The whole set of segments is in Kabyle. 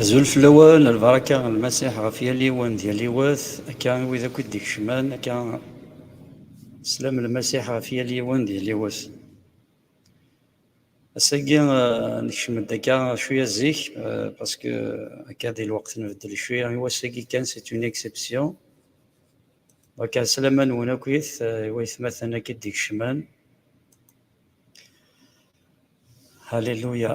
Azul fell-awen, lbaraka n Lmasiḥ ɣef yal yiwen d yal yiwet, akka i wid akk i d-ikecmen, akka slam Lmasiḥ ɣef yal yiwen d yal yiwet. Ass-agi nekcem-d akka cwiya zik parce que akka di lweqt nbeddel cwiya i wass-agi kan c'est une exception. Donc ɛeslama-nwen akkit i waytmaten akk i d-ikecmen. Alléluia.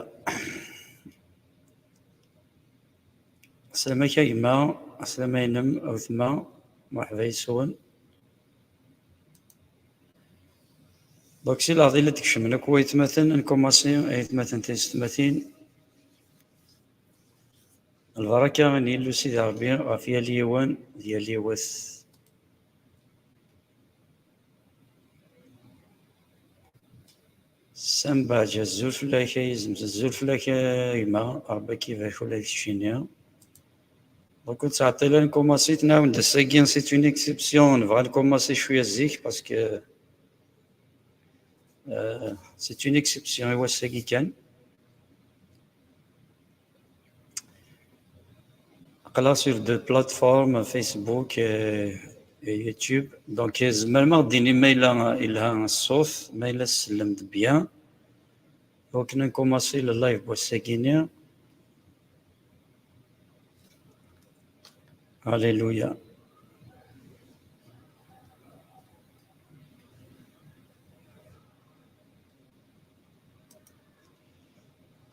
Aslama-k a gma, aslama-inem a wetma, mṛeḥba yes-wen. Donc si leɛḍil i d-kecmen akk waytmaten n Kumasi, aytmaten tiysetmatin, lbaraka n Yillu Sidi Ṛebbi ɣef yal yiwen d yal yiwet. Sam Baja, zul fell-ak ay izem, zul fell-ak a gma, Ṛebbi ad k-ibarek ula deg keččini. Donc ur ttɛeṭṭil ara nkumaṣi tnawend ass-agi, c'est une exception, nebɣa nkumaṣi cwiya zik parce que euh, c'est une exception i wass-agi kan. aql-aɣ sur de plateforme Facebook et YouTube donc tzemrem ad d-tini ma yella yelha ṣṣut ma yella tsellem-d bien donc ad nkumaṣi le live n wass-agi-nni Alléluia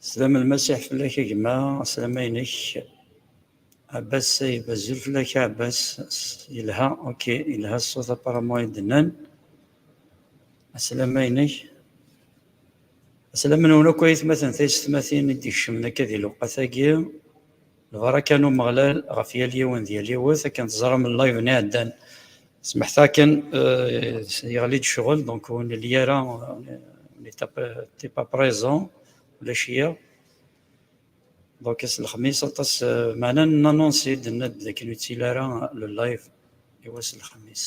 Slam lmasiḥ fell-ak a gma, slam-inek. Abbas Sayeb, azul fell-ak a Abbas. Yelha, ok, yelha ṣṣut apparemment ay d-nnan. Aslam-inek. Aslam-nwen akk ay atmaten taysetmatin i d-ikecmen akka di lewqat-agi. Lbaraka n Umeɣlal ɣef yal yiwen d yal yiwet, akken teẓram live-nni iɛeddan smeḥta akken yeɣli-d ccɣel, donc ur nelli ara, on n'était pas présent, ulac-iyi. Donc ass n Lexmis aṭas, meɛna n-annoncer-d, nenna-d dakken ur yettili ara le live i wass n Lexmis.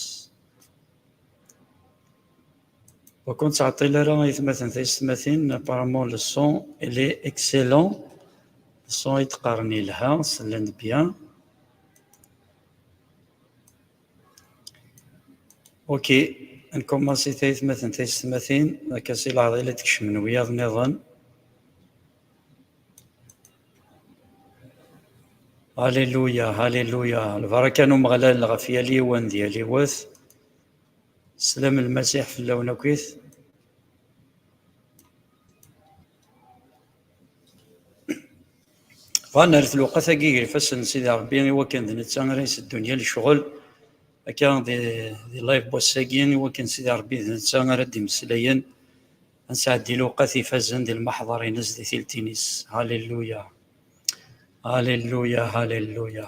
Ur k-nettɛeṭṭil ara a yetmaten taysetmatin, apparemment le son il est excellent, le son ay d-qqaren yelha, sellen-d bien. Ok, ad nkumansi tayetmatin taysetmatin, akka si leɛḍil i d-kecmen wiyaḍ niḍen. Alléluia, Alléluia, lbaraka n Umeɣlal ɣef yal yiwen d yal yiwet. Slam lmasiḥ fell-awen akkit. Bɣan ar tluqat-agi gar ifassen n Sidi Ṛebbi i wakken d netta ara iseddun yal ccɣel akka di live wass-agi i wakken Sidi Ṛebbi d netta ara d-imeslayen ad nesɛeddi luqat ifazen di lmaḥḍar-ines di tiltin-is. Halleluya! Halleluya! Halleluya!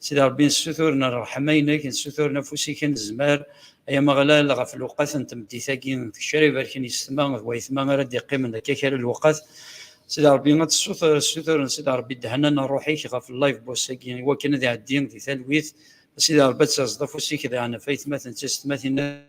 Sidi Ṛebbi, nessuturen ṛṛeḥma-inek, nessuturen afus-ik anezmar, ay Ameɣlal, ɣef lewqat n tmeddit-agi n tgecrirt, ibarken yes-tma d wayetma ara d-iqqimen akka kra n lewqat. Sidi Ṛebbi, ad tessuturen, Sidi Ṛebbi, ddehna n ṛṛuḥ-ik ɣef live boss-agi, i wakken ad iɛeddi di talwit. A Sidi Ṛebbi, ad tazeḍ afus-ik daɣen ɣef ayetma-ten, d taysetmatin.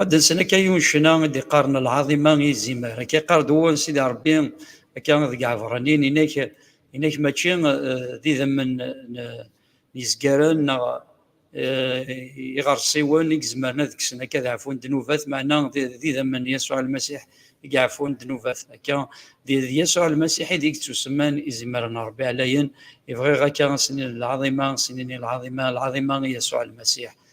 Ad nsen akka yiwen ccna i d-iqqaren lɛaḍima i izimer. Akka iqqar-d wul Sidi Rebbi akka deg Ɛebṛaniyen, inak, inak mačči d idammen n yizgaren neɣ iɣersiwen i izemren ad kksen akka ad ɛfun ddnubat, meɛna d idammen n Yasuɛ Lmasiḥ i iɛfun ddnubat. Akka d Yasuɛ Lmasiḥ i d ittusemman izimer n Rebbi ɛlayen. I bɣiɣ akka ad s-nini lɛaḍima, ad s-nini lɛaḍima, lɛaḍima i Yasuɛ Lmasiḥ.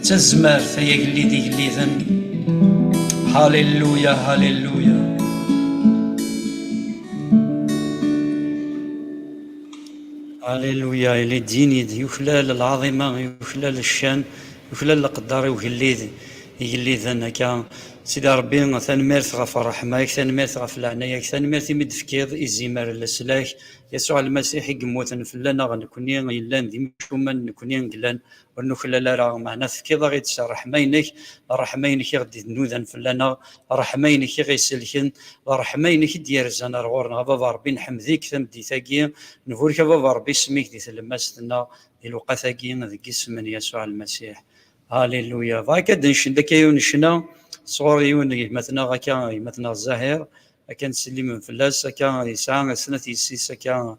D tazmert ay agellid igelliden. Hallelujah, hallelujah. Hallelujah, il est digne, yuklal l'azima, yuklal l'shan, yuklal l'qaddar, yugellid, igelliden akka. Sidi Rebbi, tanemmirt ɣef ṛṛeḥma-k, tanemmirt ɣef leɛnaya-k, tanemmirt imi d-tefkiḍ izimer n leslak, Yasuɛ Lmasiḥ i yemmuten fell-aneɣ nekkni yellan d imcumen, nekkni yellan ur nuklal ara meɛna tefkiḍ-aɣ-id s ṛṛeḥma-inek ṛṛeḥma-inek i ɣ-d-inudan fell-aneɣ ṛṛeḥma-inek i ɣ-iselken d ṛṛeḥma-inek i d-yerzan ar ɣur-neɣ a baba Ṛebbi nḥemmed-ik tameddit-agi nburek a baba Ṛebbi isem-ik di tlemmast-nneɣ di lewqat-agi deg isem n Yasuɛ Lmasiḥ Alléluia Bɣiɣ akka ad d-ncend akka yiwen n ccna sɣur yiwen n gma-tneɣ akka gma-tneɣ Zahir akka nettsellmen fell-as akka yesɛa snat yessi-s akka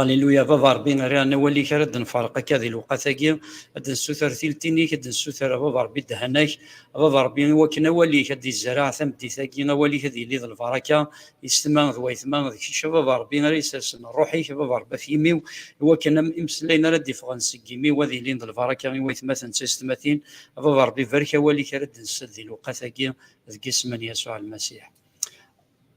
Alléluia, baba Rebbi, rran awal-ik ara d-nferq akka di lewqat-agi, ad d-nessuter tiltin-ik, ad d-nessuter a baba Rebbi ddehana-k, a baba Rebbi i wakken awal-ik ad d-izreɛ tameddit-agi, awal-ik ad yili d lbaraka, yessetma d wayetma, d kečč a baba Rebbi ara isersen rruḥ-ik a baba Rebbi af yimi-w, i wakken am imeslayen ara d-iffɣen seg yimi-w ad ilin d lbaraka i waytmaten d taysetmatin, a baba Rebbi barek awal-ik ara d-nsel di lewqat-agi, deg isem n Yasuɛ Lmasiḥ.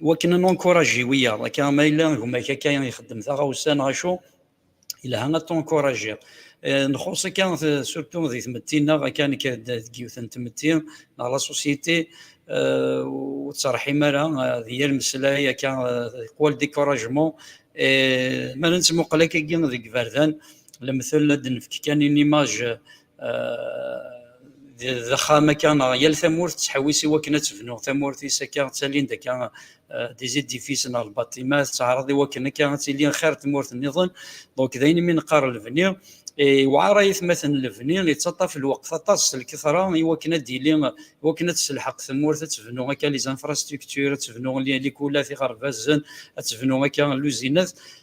wakken ad nunkuraji wiyaḍ akka ma yella gma-k akka ixeddem taɣawsa neɣ acu yelha ad tunkurajiḍ eh, nxuṣ akka surtu di tmetti-nneɣ akka nekk deg yiwet n tmetti neɣ la société eh, ur ttreḥḥim ara eh, di yal meslay akka qual découragement ma nettmuqal akka deg iberdan lemtel ad nefk kan une image d axxam akka neɣ yal tamurt tettḥewwis i wakken ad tebnu tamurt-is akka ttalin-d akka des édifices neɣ lbaṭimat tettɛaraḍ i wakken akka ad tili xir tmurt niḍen donc d ayen imi neqqar lebni yewɛar ayetmaten lebni yettaṭṭaf lweqt aṭas s lketṛa i wakken ad d-yili i wakken ad tesselḥeq tmurt ad tebnu akka les infrastructures ad tebnu likulat iɣerbazen ad tebnu akka luzinat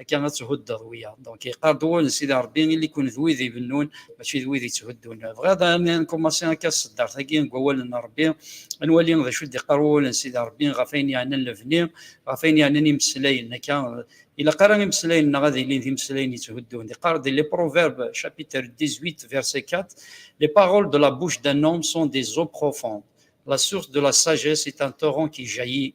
akka ad thuddeḍ wiyaḍ donc yeqqar-d wul sidi rebbi ili-kun d wid ibennun mačči d wid yetthuddun bɣiɣ ad nkummasi akka ṣeddart-agi deg wawalen n rebbi ad nwali d acu d-iqqar wul n sidi rebbi ɣef ayen yeɛnan lebni ɣef ayen yeɛnan imeslayen akka ilaq ara imeslayen-nneɣ ad ilin d imeslayen yetthuddun iqqar-d les proverbes chapitre 18 verset 4 les paroles de la bouche d'un homme sont des eaux profondes la source de la sagesse est un torrent qui jaillit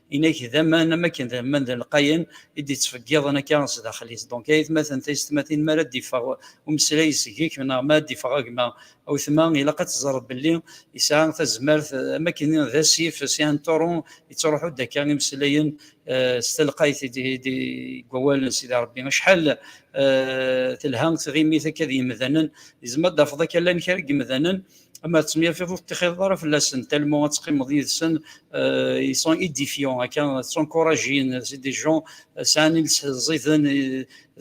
inak d aman am akken d aman d lqayen i d-ittfeggiḍen akka sdaxel-is donc aytmaten taysetmatin mi ara d-iffeɣ umeslay seg-k neɣ mi ara d-iffeɣ agma awetma ilaq ad teẓreḍ belli yesɛa tazmert am akken d asif c'est un torrent yettruḥu-d akka imeslayen eh, s telqayt deg wawalen sidi Rebbi acḥal eh, telha tɣimit akka d yemdanen yezmer d-tafeḍ akka llan kra n yemdanen ma tettemyafiḍ ur tettixxiḍeḍ ara fell-asen tellement ad teqqimeḍ yid-sen euh, ils sont édifiants akka ttunkurajin c'est des gens euh, sɛan iles ẓiden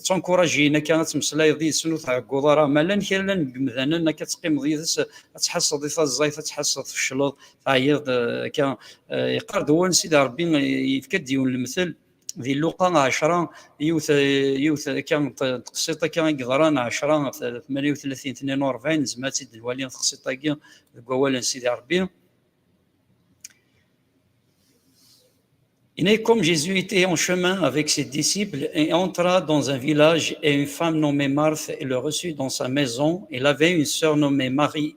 ttunkurajin euh, akka ad temmeslayeḍ yid-sen ur tɛegguḍ ara ma llan kra llan deg yemdanen akka teqqimeḍ yid-s ad tḥasseḍ i taẓẓayt ad tḥasseḍ tfecleḍ teɛyiḍ akka yeqqar-d wun sida rebbi yefka-d yiwen lemtel di luqa ɛecra yiwet yiwet akka teqsiṭ akka i yeḍran ɛecra tmaniw tlatin tnin u rebɛin nezmer ad tt-id-nwali teqsiṭ-agi deg wawal n Sidi Rebbi Il comme Jésus était en chemin avec ses disciples et entra dans un village et une femme nommée Marthe le reçut dans sa maison. Il avait une sœur nommée Marie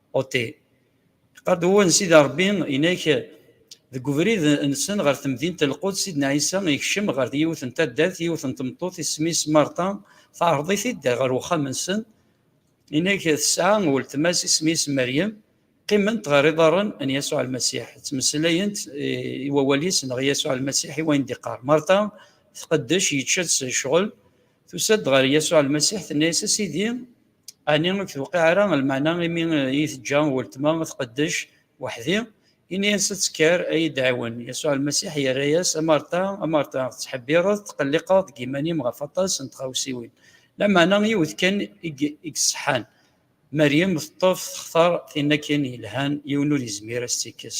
Ote, Qadouan Sidi Rebbi inek deg ubrid nsen ɣer temdint Lqud Sidna Ɛisa yekcem ɣer yiwet n taddart yiwet n tmeṭṭut isem-is Marta teɛreḍ-it-id ɣer uxxam-nsen inek tesɛa weltma-s isem-is Meryem qqiment ɣer iḍarren n Yasuɛ Lmasiḥ ttmeslayent i wawal-is neɣ Yasuɛ Lmasiḥ i wayen d-iqqar Marta tqeddec yečča-tt ccɣel tusa-d ɣer Yasuɛ Lmasiḥ tenna-as a Sidi Ɛni ur k-tewqiɛ ara lmeɛna imi iyi-teǧǧa weltma ad tqeddec weḥd-i? Ini-as ad tekker ad iyi-d-tɛiwen. Yasuɛ Lmasiḥ yerra-yas, A Marta, a Marta, tettḥebbiṛeḍ, tettqelliqeḍ deg yiman-im ɣef aṭas n tɣawsiwin, lameɛna yiwet kan i iṣeḥḥan. Meryem teṭṭef, textaṛ, tin akin yelhan, yiwen ur yezmir ad s-tt-ikkes.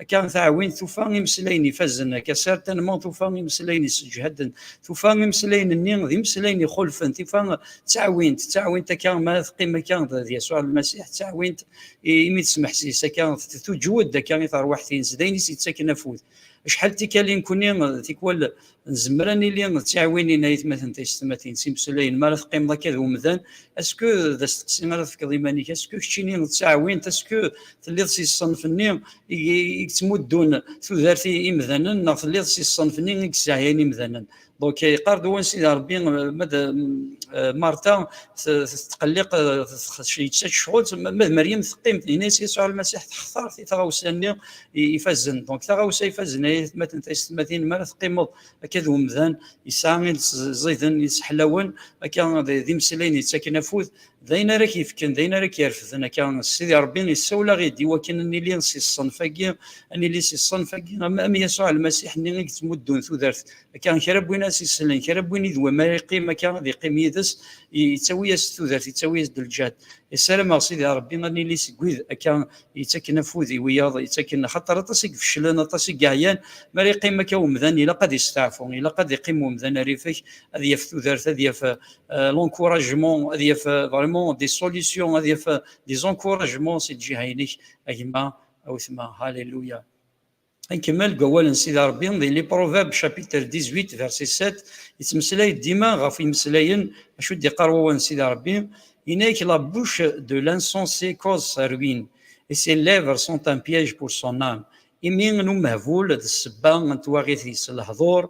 Akka taɛwin tufa imeslayen ifazen, akka sar tanma tufa imeslayen isseǧhaden, tufa imeslayen-nni d imeslayen ixulfen, tufa d taɛwint, d taɛwint akka ma teqqim akka d Yasuɛ Lmasiḥ, d taɛwint imi tesmeḥsis akka, tuǧwed akka i terwiḥt-ines, d ayen i s-yettaken afud. Acḥal tikal i nekkni tikwal Nzemmer ad nili d tiɛwinin a yetmaten taysetmatin s imesulayen mi ara teqqimeḍ akka d umdan, asku d asteqsi ara tefkeḍ iman-ik, asku keččini d taɛwint, asku telliḍ si ṣṣenf-nni i yettmuddun tudert i imdanen neɣ telliḍ si ṣṣenf-nni i yesseɛyayen imdanen. Donc yeqqar-d Uwansida Rebbi ma d Marta tetqelliq yeţţa-ţ ccɣel, ma d Meryem teqqim, yenna-yas Yasuɛ Lmasiḥ textar tɣawsa-nni ifazen donc taɣawsa ifazen ay atmaten taysetmatin mi ara teqqimeḍ akka d umdan yesɛa iles ẓiden yesseḥlawen akka d imeslayen yettaken afud d ayen ara k-yefken d ayen ara k-yerfden akka sidi rebbi yessawel-aɣ-id i wakken ad nili si ṣṣenf-agi ad nili si ṣṣenf-agi am yasuɛ lmasiḥ-nni i yettmuddun tudert akka kra n win ad s-isellen kra n win i d wama yeqqim akka ad yeqqim yid-s yettawi-as tudert yettawi-as-d lǧehd yessarameɣ sidi rebbi ad nili seg wid akka yettakken afud i wiyaḍ yettakken axaṭer aṭas i ifeclen aṭas i yeɛyan mi ara yeqqim akka umdan ilaq ad yesteɛfu ilaq ad yeqqim umdan arifek ad yaf tudert ad yaf euh, l'encouragement ad yaf euh, vraiment des solutions ad yaf euh, des encouragements si lǧiha-inek a gma a wetma halleluya Nkemmel deg wawal n Sidi Ṛebbi di Les Proverbes chapitre 18 verset 7 yettmeslay-d dima ɣef imeslayen acu i d-iqqar wawal n Sidi Ṛebbi yenna-ak la bouche de l'insensé cause sa ruine et ses lèvres sont un piège pour son âme imi n umehbul d ssebba n twaɣit-is lehduṛ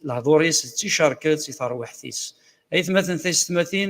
lehduṛ-is d ticerket i terwiḥt-is aytmaten taysetmatin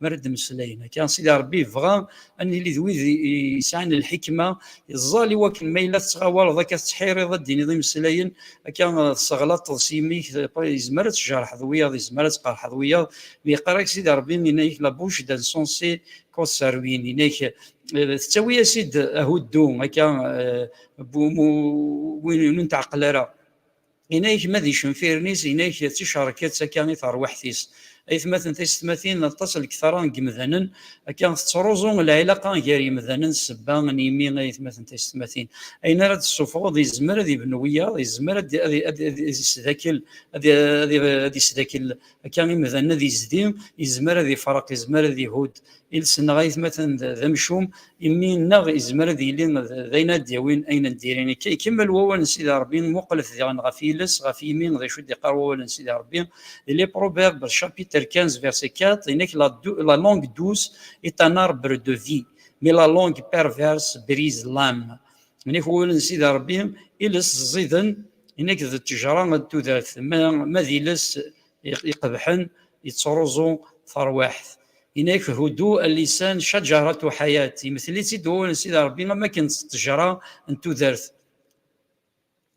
mi ara d-mmeslayen akka, Sidi Ṛebbi yebɣa ad nili d wid yesɛan lḥikma, yeẓẓal i wakken ma yella tettɣawaleḍ akka, tettḥiriḍ ad d-tiniḍ imeslayen akka, tesseɣlaṭeḍ s yimi-k, yezmer ad tjerḥeḍ wiyaḍ, yezmer ad tqerḥeḍ wiyaḍ, mi yeqqar-ak Sidi Ṛebbi, yenna-ak La bouche d'un sensé cause sa ruine, yenna-ak tettawi-as-id ahuddu akka, win ur netɛeqqel ara. Inag ma d icenfiren-is, inag d ticerket akka i terwiḥt-is. Aytmaten taysetmatin, aṭas n lketara n yemdanen akka tettruẓu lɛilaqa gar yemdanen s sebba n yimi aytmaten taysetmatin. Ayen ara d-tessufɣeḍ yezmer ad ibnu wiyaḍ, yezmer ad isdakel, ad isdakel akka imdan ad yezdi yezmer ad ifreq yezmer ad ihudd iles-nneɣ aytmaten d amcum imi nneɣ yezmer ad yili d ayen ad d-yawin ayen n diri akka ikemmel wawal n Sidi Ṛebbi muqlet diɣen ɣef yiles ɣef yimi d acu d-iqqar wawal n Sidi Ṛebbi di les Proverbes chapitre 15 verset 4 inek la langue douce est un arbre de vie mais la langue perverse brise l'âme inek wawal n Sidi Ṛebbi iles ẓiden Inek d ttejra d tudert, ma d iles iqebḥen yettruẓu tarwiḥt. Inek hudu al-lisan caǧarat u ḥayat, yemtel-itt-id wawal n Sidi Ṛebbi am wakken d ttejra n tudert.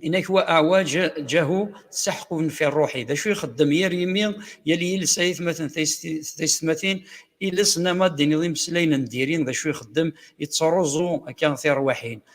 Inek wa aɛwa ǧahu ţaḥqun fi ṛṛuḥi, d acu ixeddem yir yimi yal yiles ay atmaten taysetmatin, iles nama d-tiniḍ imeslayen n diri d acu ixeddem yettruẓu akka tiṛwiḥin.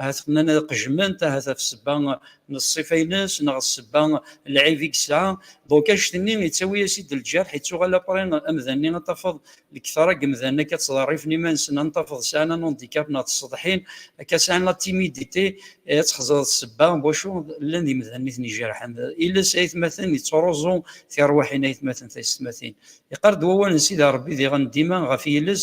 ahat qnan ad qejment ahat ɣef ssebba n ṣṣifa-ines neɣ ssebba n lɛib i yesɛa donc anect-nni yettawi-as-id lǧerḥ yettuɣal apre amdan-nni ad tafeḍ lekthara n yemdanen akka ttḍerrifen iman-nsen ad tafeḍ sɛan anondikap neɣ tseḍḥin akka sɛan la timidite ad txeẓreḍ ssebba n wacu llan d imdanen i ten-ijerḥen iles aytmaten yettruẓu tirwiḥin aytmaten taysetmatin yeqqar-d wawal n Sidi Rebbi diɣen dima ɣef yiles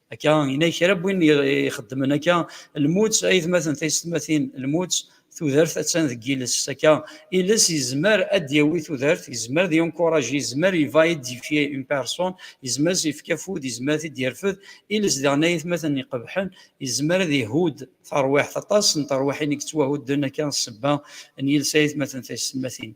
akka ina kra n win ixeddmen akka lmut ay tmaten taysetmatin lmut tudert attan deg yiles akka iles yezmer ad d-yawi tudert yezmer ad yunkuraj yezmer iva idifye une personne yezmer ad yefk afud yezmer ad d-yerfed iles daɣen ay tmaten iqebḥen yezmer ad ihud tarwiḥt aṭas n terwiḥin i yettwahudden akka ssebba n yiles ay tmaten taysetmatin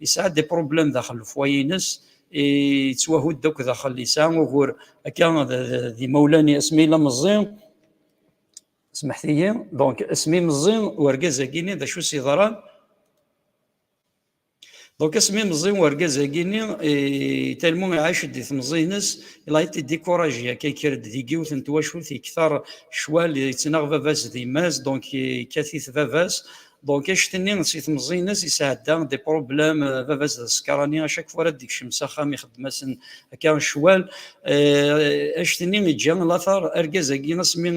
yesɛa des problèmes daxel lefwayi-ines yettwahud akk daxel yesɛa ugur akka d imawlan-i asmi yella meẓẓi smeḥtiyi donc asmi meẓẓi urgaz-agi-ni d acu i s-yeḍran donc asmi meẓẓi urgaz-agi-ni talmu iɛac-d di temẓi-ines il a été découragé akka yekker-d di yiwet n twacult yekter ccwal yettnaɣ baba-s d yemma-s donc yekkat-it baba-s Donc acetni si temẓi-ines yesɛedda des problèmes baba-s d asekṛani à chaque fois ara d-ikcem s axxam ixeddem-asen akka ccwal acetni iǧǧa lateṛ argaz-agi asmi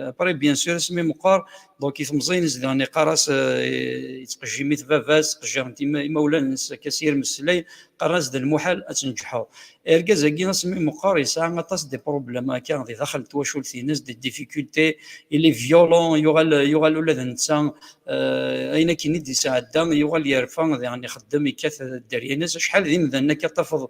après bien sûr asmi meqqer donc i temẓi-ines diɣen iqqar-as yettqejjim-it baba-s ttqejjiren-t imawlan-nnes akka s yir meslay qqaren-as d lmuḥal ad tneǧǧḥeḍ Argaz-agi asmi meqqer yesɛa aṭas des problèmes akka di daxel n twacult-ines, des difficultés, il est violent, yuɣal yuɣal ula d netta ayen akken i d-yesɛedda yuɣal yerfa diɣen ixeddem yekkat dderya-ines, acḥal d imdanen akka tafeḍ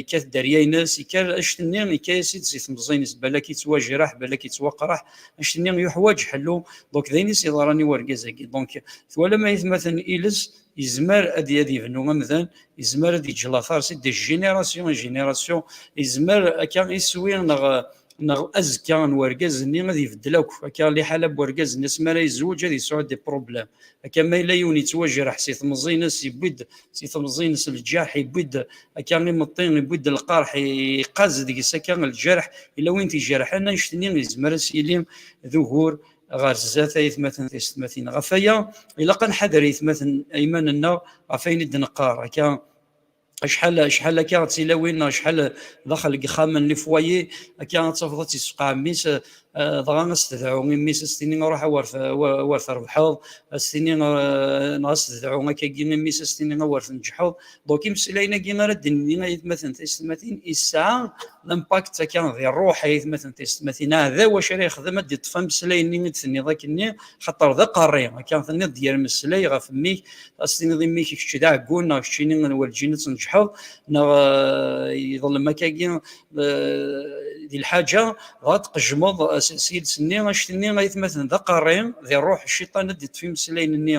yekkat dderya-ines, yekker anect-nni yekka-as-id si temẓin-is balak yettwajreḥ balak yettwaqreḥ, anect-nni yuḥwaǧ ḥellu, donc d ayen i s-yeḍran i urgaz-agi, donc twalam ayetmaten-iles Yezmer ad ad yebnu amdan, yezmer ad yeǧǧ lafarsi de génération en génération, yezmer akka iswi neɣ neɣ azekka n urgaz-nni ad ibeddel akk, akka liḥala n urgaz-nni asmi ara yezweǧ ad yesɛu des problèmes, akka ma yella yiwen yettwajreḥ si temẓi-ines yewwi-d si temẓi-ines lǧerḥ, yewwi-d akka imeṭṭi, yewwi-d lqerḥ, yeqqaz deg-s akka lǧerḥ, yella win t-ijerḥen, annect-nni yezmer ad s-yili d ugur ɣer zdat aytmaten tiysetmatin ɣef aya ilaq ad nḥader aytmaten ayman-nneɣ ɣef ayen i d-neqqar akka acḥal acḥal akka d tilawin neɣ acḥal daxel deg ixxamen li fwaye akka ad tafeḍ ad tt-yessefqeɛ mmi-s dɣa ad s-tedɛu imi-s ad s-tini ruḥ awer awer trebḥeḍ ad s-tini neɣ ad s-tedɛu akkagi imi-s ad s-tini awer tneǧḥeḍ Donc, imsilayen-agi ara d-nini ayetmaten taysetmatin, yesɛa l'impact akka di rruḥ ayetmaten taysetmatin. Aɛdaw acu ara yexdem ad d-iṭṭef ameslay-nni i d-tenniḍ akkenni, xaṭer d aqerri. Akka tenniḍ d yir meslay ɣef mmi-k, ad s-tiniḍ i mmi-k kečč d aɛeggun neɣ keččini werǧin ad tneǧḥeḍ, neɣ yeḍlem akkagi di lḥaǧa, dɣa ad tqejjmeḍ s yiles-nni. Anect-nni ayetmaten d aqerri, di rruḥ cciṭan ad d-iṭṭef imeslayen-nni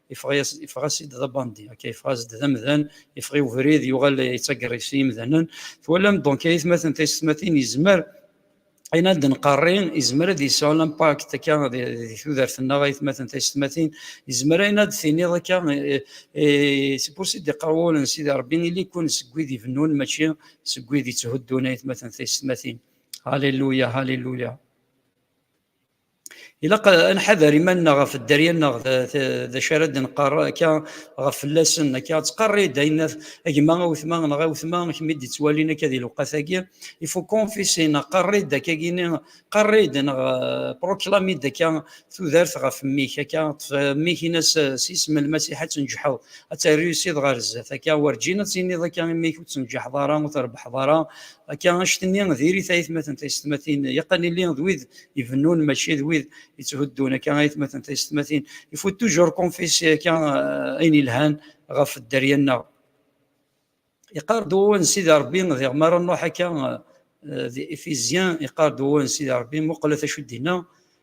Yeffeɣ-as-id d abandi, akka, yeffeɣ-as-d d amdan, yeffeɣ i ubrid, yuɣal yettaggerri s yimdanen. Twalam, donc, ayetmaten, taysetmatin, yezmer, ayen ara d-nqerri, yezmer ad yesɛu l'impact, akka, di tudert-nneɣ, ayetmaten, taysetmatin, yezmer ayen ara d-tiniḍ, akka, c'est pour ça d-iqqar wul n Sidi Rebbi, Ili-kun seg wid ibennun, mačči seg wid itthuddun, ayetmaten, taysetmatin. Alléluia, Alléluia. ilaq ad nḥader iman-nneɣ ɣef dderya-nneɣ d acu ara d-nqarr akka ɣef fell-asen akka ad tqarr-id ayen a gma a wetma neɣ a wetma kemm i d-ittwalin akka di lewqat-agi il faut confesser neɣ qarr-id akka-gini qarr-id neɣ euh, proclame-id akka tudert ɣef mmi-k akka ṭṭef euh, mmi-k in-as euh, s isem lmasiḥ ad tenǧeḥeḍ ad terriusiḍ ɣer zdat akka werǧin ad tiniḍ akka i mmi-k ur tenǧeḥeḍ ara ur trebḥeḍ ara Akka anect-nni diri-t ayetmaten taysetmatin yeqqan illi d wid ibennun mačči d wid yetthuddun akka ayetmaten taysetmatin il faut toujours qu'on fasse akka eh, ayen yelhan ɣef dderya-nneɣ iqar-d wawal n Sidi Rebbi diɣ mi ara nruḥ akka eh, di Efizyen iqar-d wawal n Sidi Rebbi muqlet acu d-inna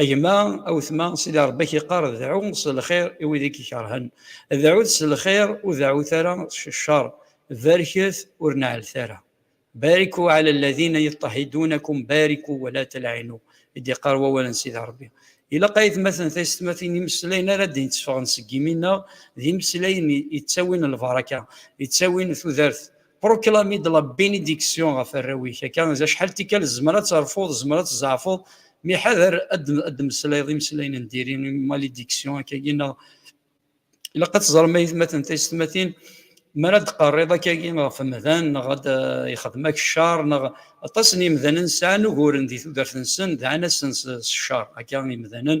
A gma, a wetma, Sidi Ṛebbi-k iqqar, Dɛu s lxir i wid i k-ikerhen. Dɛut s lxir, ur deɛɛut ara s cceṛ. Barket, ur neɛɛlet ara. Bariku ɛala lladina yeṭṭehidunakum bariku wa laa telɛinu, i d-iqqar wawal n Sidi Ṛebbi. Ilaq ayetmaten d taysetmatin imeslayen ara d-yetteffɣen seg yimi-nneɣ d imeslayen yettawin lbaraka, yettawin tudert. Proclame-d la bénédiction ɣef arraw-ik akka d acḥal tikkal tzemmer ad terfuḍ, tzemmer ad tzeɛfuḍ, mi ḥader ad d-temmeslayeḍ imeslayen n diri, malédiction akkagi neɣ ilaq ad teẓrem ayetmaten taysetmatin mi ara d-teqqarriḍ akkagi ɣef umdan neɣ ad yexdem-ak ccer neɣ aṭas n yimdanen sɛan uguren di tudert-nsen, dɛan-asen s ccer akka imdanen,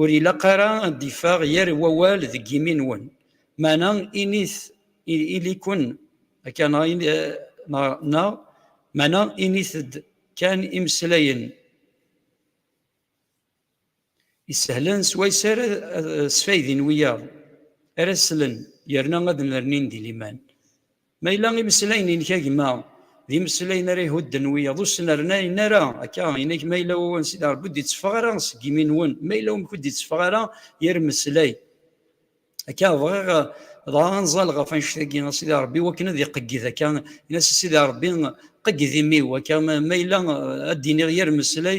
Ur ilaq ara ad d-iffeɣ yir wawal deg yimi-nwen, meɛna init ili-ken akka neɣ meɛna init-d kan imeslayen isehlen s wayes ara sfaydin wiyaḍ ara slen yerna ad nernin di liman. Ma yella imeslayen-inek a gma d imeslayen ara ihudden wiyaḍ ur sen-rnayen ara akka inek ma yella wawal Sidi Rebbi ur d-itteffeɣ ara seg yimi-nwen ma yella wamek ur d-itteffeɣ ara yir meslay akka bɣiɣ dɣa anẓal ɣef annect-agi a Sidi Rebbi wakken ad iqegged akka in-as a Sidi Rebbi qegged imi-w akka ma yella ad d-iniɣ yir meslay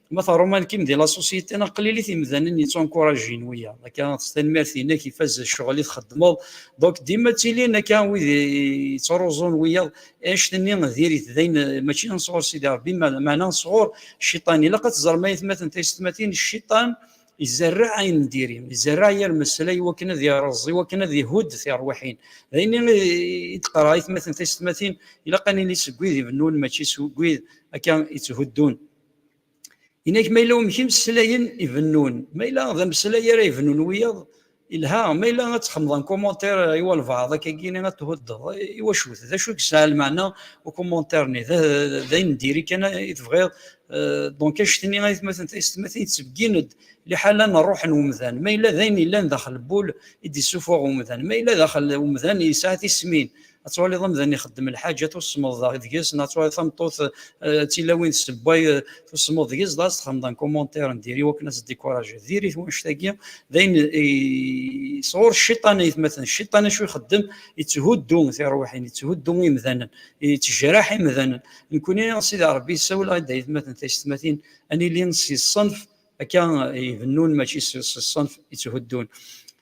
Ma teṛuman kim di la société, neɣ qlilit imdanen yeţţunkuraǧin wiyaḍ. Akka s tanmirt-inek ifaz ccɣel i txeddmeḍ. Donc dima ttilin akka wid yeţṛuẓun wiyaḍ. Annect-nni diri-t d ayen mačči sɣur Sidi Ṛebbi, meɛna sɣur Cciṭan. Ilaq ad teẓrem ayetmaten taysetmatin, Cciṭan izerreɛ ayen n diri, izerreɛ yir mmeslay i wakken ad iṛeẓ, i wakken ad ihudd tiṛwiḥin. D ayen i d-qqareɣ ayetmaten taysetmatin, ilaq ad nili seg wid ibennun mačči seg wid akka iţhuddun. Inak ma yella umek imeslayen ibennun, ma yella d ameslay ara ibennun wiyaḍ, ilha, ma yella ad txemmeḍ en commentaire euh, i walbaɛḍ akkagi ad tuhuddeḍ, i wacu-t, d acu i yesɛa lmeɛna ukummontaire-nni, d ayen n diri kan i tebɣiḍ, euh, donc annect-nni ayetmaten taysetmatin yettbeggin-d liḥala n rruḥ n umdan, ma yella d ayen yellan daxel n wul i d-yessuffuɣ umdan, ma yella daxel umdan yesɛa tismin, ad twaliḍ amdan ixeddem lḥaǧa tusmeḍ daɣ deg-s neɣ twaliḍ tameṭṭut eh, d tilawin tessewway eh, tusmeḍ deg-s daɣ txedmeḍ un commentaire n diri wakken ad tdikurajeḍ diri-t wanect-agi d ayen eh, sɣur cciṭan aytmaten cciṭan acu ixeddem yetthuddu tirwiḥin yetthuddu imdanen yettejraḥ imdanen nekkuni sidi rebbi yessawel-aɣ d aytmaten taysetmatin ad nili si ṣṣenf akka ibennun mačči si ṣṣenf yetthuddun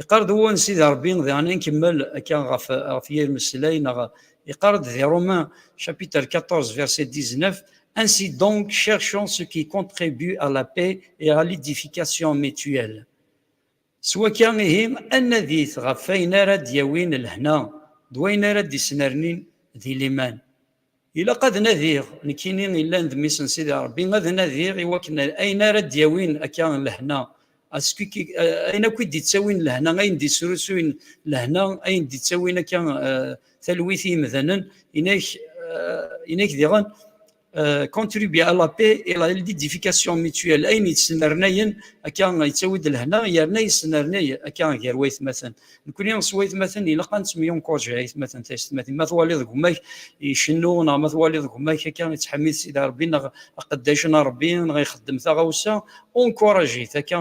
Iqar-d wun Sidi Rebbi, diɣen nkemmel akka ɣef ɣef yir meslay neɣ iqar-d di Romain chapitre 14 verset 19, Ainsi donc cherchons ce qui contribue à la paix et à l'édification mutuelle. S wakka ihi ad nadit ɣef wayen ara d-yawin lehna d wayen ara d-isnernin di liman. Ilaq ad nadiɣ, nekkini illan d mmi-s n Sidi Ṛebbi, ad nadiɣ i wakken ayen ara d-yawin akka lehna, ayen akk i d-ittawin lehna, ayen d-isrusuyen lehna, ayen d-ittawin akka talwit i yimdanen, inak diɣen contribuer à la paix et la l'édification mutuelle, ayen yesnernayen akka yettawi-d lehna, yerna yesnernay akka gar waytmaten. Nekkni s waytmaten ilaq ad nettemyunkuṛǧi aytmaten taysetmatin. Ma twaliḍ deg umak icennu neɣ ma twaliḍ deg umak akka ittḥemmid Sidi Ṛebbi neɣ aqeddac n Ṛebbi neɣ ixeddem taɣawsa, encourage-it akka,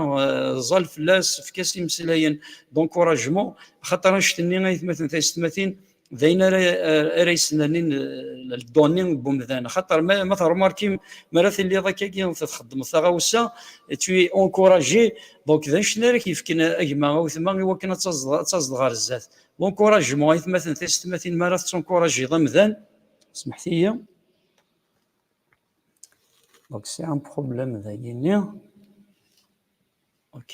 ẓẓal fell-as, efk-as imeslayen d'encouragement, axaṭer anect-nni aytmaten taysetmatin d ayen ara ara yesnernin eh, ldoni n umdan xaṭer ma termarkim mi ara tiliḍ akkagi txeddmeḍ taɣawsa tu es encouragé donc d anecni ara k-yefken agma awtma i wakken ad tazeḍ ɣer zdat l'encouragement aytmaten tisetmatin mi ara tettencouragiḍ amdan smeḥtiyi donc c'est un problème dagini ok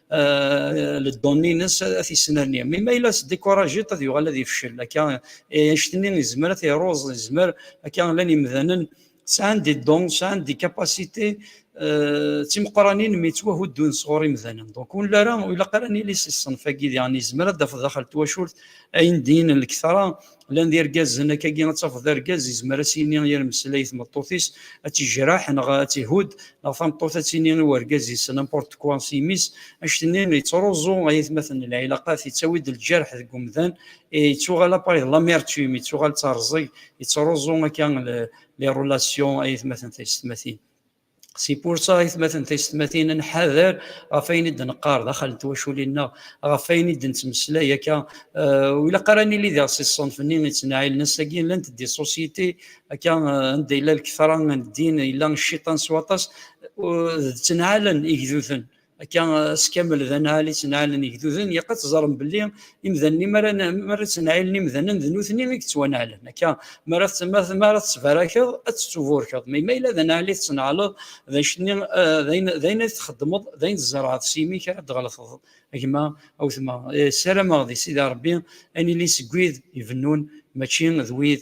ledoni-nnes ad t-yesnerni. Mi ma yella s-découragé, ad yuɣal ad yefcel. Akka, anect-nni yezmer ad t-iruẓ, yezmer akka llan imdanen sɛan des dons, sɛan des capacités d timeqranin mi ttwahuddun sɣur imdanen. Donc, ur nella ara, ur ilaq ara ad nili si ṣṣenf-agi. Diɣen yezmer ad d-tafeḍ daxel n twacult ayen d-yinin lektra lan d irgazen akkagi ad tafeḍ argaz yezmer ad s-yini yir meslay tmeṭṭut-is ad tijraḥ neɣ ad tihudd neɣ tameṭṭut ad tini i urgaz-is n'importe quoi s imi-s anect-nni yettruẓu ay atmaten n lɛilaqat yettawi-d lǧerḥ deg umdan yettuɣal appareil de l'amertume yettuɣal d terẓeg yettruẓu akka les relations ay atmaten taysetmatin Si pursa i tmaten taysetmatin ad nḥader ɣef ayen i d-neqqar daxel n twaculin-nneɣ, ɣef ayen i d-nettmeslay akka, ur ilaq ara ad nili diɣ si ṣṣenf-nni yettnaɛilen. Ass-agi llant-d i ṣusyiti akka anda yella lketṛa n ddin, yella cciṭan s waṭas, d ttnaɛalen igduden. akka eh, s kamel d anɛal i ttnɛalen igduden yaq ad teẓrem belli imdanen mi ara ttnɛilen imdanen d nutni i yettwanɛalen akka mi ara tettbarakeḍ ad tettuburkeḍ ma ma yella d anɛal i tettnɛaleḍ d acu-nni eh, d ayen ay txeddmeḍ d ayen tzerɛeḍ s yimi-k ara d-tɣelteḍ gma a wetma eh, ssarameɣ di sidi rebbi ad nili seg wid ibennun mačči d wid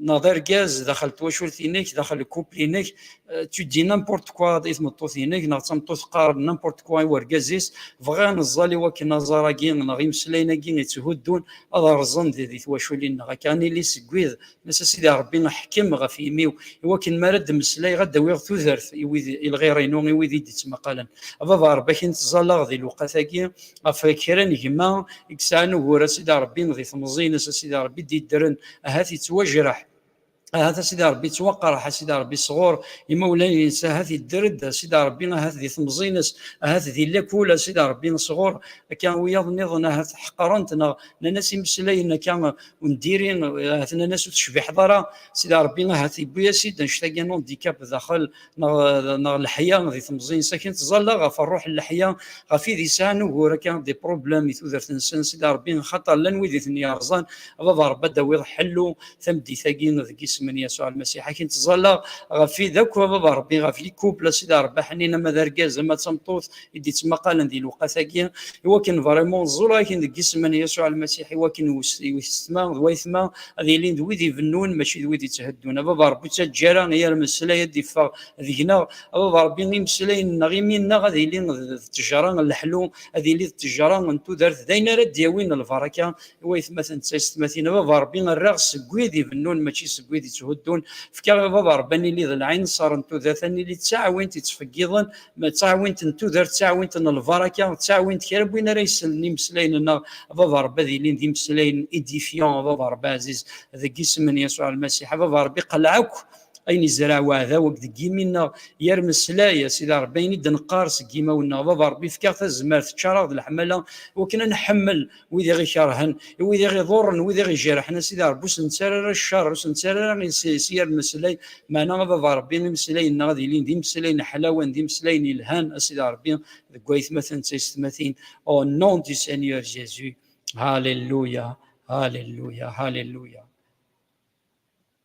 neɣ d argaz daxel twacult-inek, daxel couple-inek, euh, tu dis n'importe quoi i tmeṭṭut-inek, neɣ d tameṭṭut teqqar n'importe quoi i urgaz-is, bɣiɣ neẓẓal i wakken aẓar-agi neɣ imeslayen-agi yetthuddun ad rẓen di, di twaculin-nneɣ. Akka ad nili seg wid, nes a Sidi Ṛebbi ḥkem ɣef yimi-w, i wakken mi ara d-mmeslayeɣ ad d-awiɣ tudert i wid, i lɣir-inu, i wid i d-ittmaqalen. A Baba Ṛebbi, akin tẓalleɣ di lewqat-agi, ɣef kra n gma i yesɛan ugur a sidi rebbi di temẓi-ines a sidi rebbi d-yeddren ahat yettwajreḥ ahat a sidi rebbi yettwaqerreḥ a sidi rebbi sɣur imawlan-ines ahat yedder-d a sidi rebbi ahat di temẓi-ines ahat di lakul a sidi rebbi sɣur akka wiyaḍ-nniḍen ahat ḥeqren-t neɣ nnan-as imeslayen akka ur ndiri ahat nnan-as ur tecbiḥeḍ ara sidi rebbi ahat yewwi-as-id anect-agi n handicap daxel neɣ leḥya di temẓin sakin tẓalla ɣef rruḥ n leḥya ɣef id yesɛan ugur akka di problem i tudert-nsen sidi Rebbi xaṭer llan wid i ten-yerẓan a baba Rebbi ad d-tawiḍ ḥellu tameddit-agi deg isem n Yasuɛ Lmasiḥ akin tẓalla ɣef id akk a baba Rebbi ɣef likupl a sidi Rebbi ḥnin ama d argaz ama d tameṭṭut i d-ittmaqalen di lewqat-agi i wakken vraiment ẓẓulagen deg isem n Yasuɛ Lmasiḥ i wakken wessetma d wayetma ad ilin d wid ibennun mačči d wid ittheddun. A Baba Rebbi ur ttaǧǧa ara i yir ameslay ad d-iffeɣ deg-neɣ, a Baba Rebbi imeslayen-nneɣ imi-nneɣ ad ili d ttejra n leḥlu, ad ili d ttejra n tudert d ayen ara d-yawin lbaraka i wayetmaten d taysetmatin. A Baba Rebbi err-aɣ seg wid ibennun mačči seg wid itthuddun. Efk-aɣ a Baba Rebbi ad nili d lɛinṣer n tudert, ad nili d taɛwint yettfeggiḍen ma d taɛwint n tudert, d taɛwint n lbaraka, d taɛwint kra n win ara yessnen imeslayen-nneɣ, a Baba Rebbi ad ilin d imeslayen édifiants, a Baba Rebbi ɛziz, deg isem n Yasuɛ Lmasiḥ, a Baba Rebbi qleɛ akk ayen izreɛ weɛdaw akk deg yimi-nneɣ, yer meslay, a Sidi Rebbi, ayen i d-neqqar seg yimawen-nneɣ, a Baba Rebbi fek-aɣ tazmert, ččar-aɣ d leḥmala iwakken ad nḥemmel, wid i ɣ-ikerhen, i wid i ɣ-iḍurren, wid i ɣ-ijerḥen, a Sidi Ṛebbi, ur sen-ttara ara cceṛ, ur sen-ttara ara iles-is i rmeslay, meɛna ad ad Ṛebbi imeslayen-nneɣ ad ilin d imeslayen ḥlawen, d imeslayen yelhan, a Sidi Ṛebbi, deg waytmaten d taysetmatin, au nom du Seigneur Jésus, Halleluya, Halleluya, Halleluya.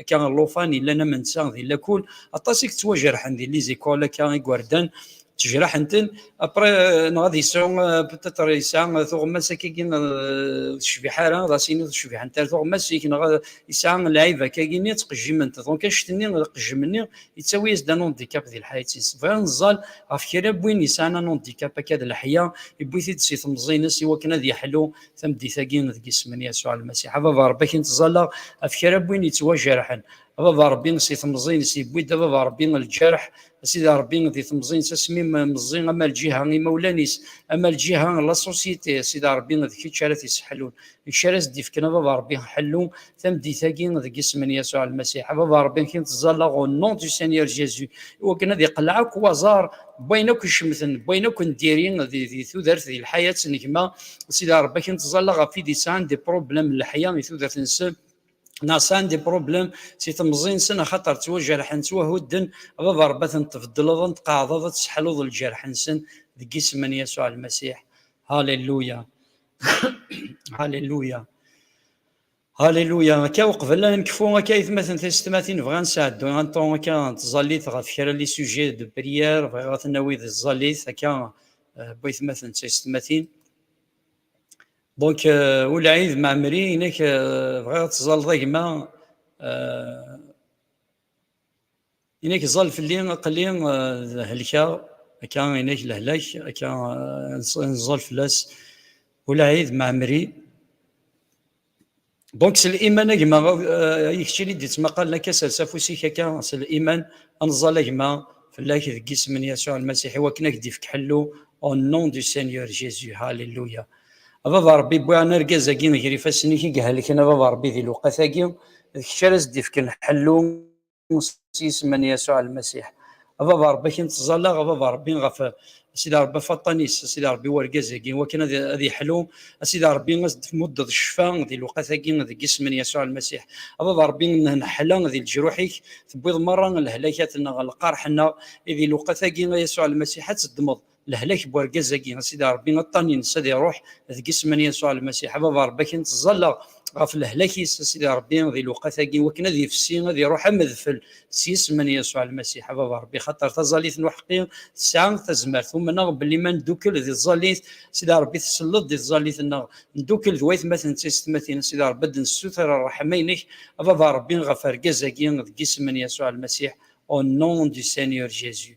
akka llufan yellan am netta di lakul aṭas i yettwajerḥen di lizikul akka igerdan ttejraḥen-ten après neɣ ad yesɛu peut-être yesɛa tuɣmas akkagi ur tecbiḥ ara ad as-yini ur tecbiḥent ara tuɣmas-ik neɣ yesɛa lɛib akkagi-nni ttqejjiment donc annect-nni aqejjem-nni yettawi-as-d un handicap di lḥayat-is bɣiɣ neẓẓal ɣef kra n win yesɛan un handicap akka d leḥya yewwi-t-id si temẓi-ines i wakken ad yeḥlu tameddit-agi deg isem n Yasuɛ Lmasiḥ. A Baba Ṛebbi, ad k-nettẓalla ɣef kra n win yettwajerḥen. A Baba Ṛebbi, si temẓi-ines yewwi-d, a Baba Ṛebbi, lǧerḥ, a Sidi Ṛebbi, di temẓi-ines, asmi meẓẓi, ama lǧiha n yimawlan-is, ama lǧiha n laṣusyiti, a Sidi Ṛebbi, d kečč ara t-isseḥlun, d kečč ara as-d-ifken, a Baba Ṛebbi, ḥellu, tameddit-agi deg isem n Yasuɛ Lmasiḥ. A Baba Ṛebbi, nekk nettẓallaɣ au nom du Seigneur Jésus, iwakken ad iqelleɛ akk waẓar n wayen akk icemten, n wayen akk n diri di, di tudert, di lḥayat n gma. Sidi Ṛebbi, nekk nettẓallaɣ ɣef wid yesɛan des problèmes n leḥya i tudert-nsen, neɣ sɛan des problèmes si temẓi-nsen, axaṭer ttwajerḥen, ttwahudden. A Baba Ṛebbi, ad ten-tbeddleḍ, ad ten-tqeɛɛdeḍ, ad tesseḥluḍ lǧerḥ-nsen deg isem n Yasuɛ Lmasiḥ. Halleluya! Halleluya! Haliluya, akka uqbel ad nekfu akka aytmaten tisetmatin bɣiɣ ad nesɛeddu un temps akka n tẓallit ɣef kra les sujets de prière bɣiɣ ad ten-nawi di tẓallit akka bu aytmaten tisetmatin. Donc ul Aïd Ma'amri inek bɣiɣ ad tẓalleḍ a gma Inek ẓẓal fell-i aql-i eh, helkeɣ akka inek lehlak akka eh, nẓẓal fell-as ulɛid maɛmri donc s liman a gma eh, i keččini d-ittmaqalen akka sers afus-ik akka s liman anẓal a gma fell-ak deg isem n yasuɛ lmasiḥ i wakken ak d-ifk ḥellu au nom du seigneur jésus halleluya A baba Ṛebbi, wwiɣ-n argaz-agi ger ifassen-ik i ihelken, a baba Ṛebbi, di lewqat-agi, d kečč ara as-d-ifken ḥellu s yisem n Yasuɛ Lmasiḥ. A baba Ṛebbi, ad k-nettẓalla, a baba Ṛebbi, ɣef, a Sidi Ṛebbi, ɣef waṭṭan-is, a Sidi Ṛebbi, n urgaz-agi, i wakken ad yeḥlu, a Sidi Ṛebbi, ad as-d-tmuddeḍ ccfa di lewqat-agi, deg yisem n Yasuɛ Lmasiḥ. A baba Ṛebbi, nneḥla di leǧruḥ-ik, tewwiḍ meṛṛa lehlakat-nneɣ, lqerḥ-nneɣ, i di lewqat-agi, a Yasuɛ Lmasiḥ, ad teddmeḍ, Lehlak n wergaz-agi, a Sidi Ṛebbi, aṭṭan ines ad iṛuḥ, deg isem n Yasuɛ Lmasiḥ, a Baba Ṛebbi, akken ttẓallaɣ ɣef lehlak-is, a Sidi Ṛebbi, di lewqat-agi, iwakken ad ifsi, ad iṛuḥ am udfel, s yisem n Yasuɛ Lmasiḥ, a Baba Ṛebbi, xaṭer taẓallit n uḥeqqi tesɛa tazmert. Umneɣ belli ma neddukel di tẓallit, a Sidi Ṛebbi, tselleḍ-d i tẓallit-nneɣ. Neddukel d waytmaten d taysetmatin, a Sidi Ṛebbi, ad d-nessuter ṛṛeḥma-inek, a Baba Ṛebbi, ɣef wergaz-agi, deg yisem n Yasuɛ Lmasiḥ, Au nom du Seigneur Jésus.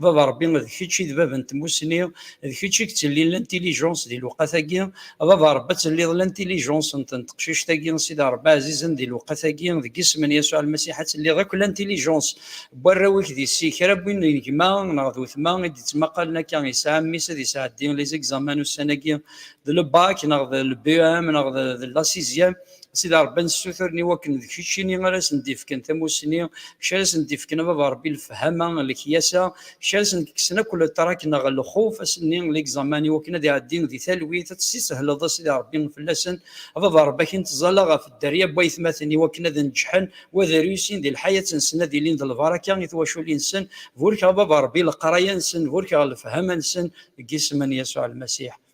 baba rebbi d kečč i d bab n tmusni d kečč i yettellin l'intelligence di lewqat-agi baba rebbi ad telliḍ l'intelligence n teqcict-agi sida rebbi ɛzizen di lewqat-agi deg isem n Yasuɛ Lmasiḥ ad telliḍ akk l'intelligence n warraw-ik di si kra n win n gma neɣ d wetma i d-ittmaqalen akka yesɛa mmi-s ad yesɛeddi les examens ussan-agi d le bac neɣ d le BEM neɣ d la sixième Sidi Ṛebbi ad nessuturen i wakken d keččini ara sen-d-ifken tamussni, kečč ara sen-d-ifken a Baba Ṛebbi lefhama, lekyasa, kečč ara sen-d-kksen akk letrak neɣ lxuf ass-nni, l'examen, i wakken ad iɛeddin di talwit, ad tt-ssihleḍ a Sidi Ṛebbi fell-asen, a Baba Ṛebbi a k-nettẓalla ɣef dderya n waytmaten i wakken ad neǧǧḥen u ad reusin di lḥayat-nsen ad ilin d lbaraka i twaculin-nsen, burek a Baba Ṛebbi leqraya-nsen, burek ɣer lefhama-nsen, deg yisem n Yasuɛ Lmasiḥ.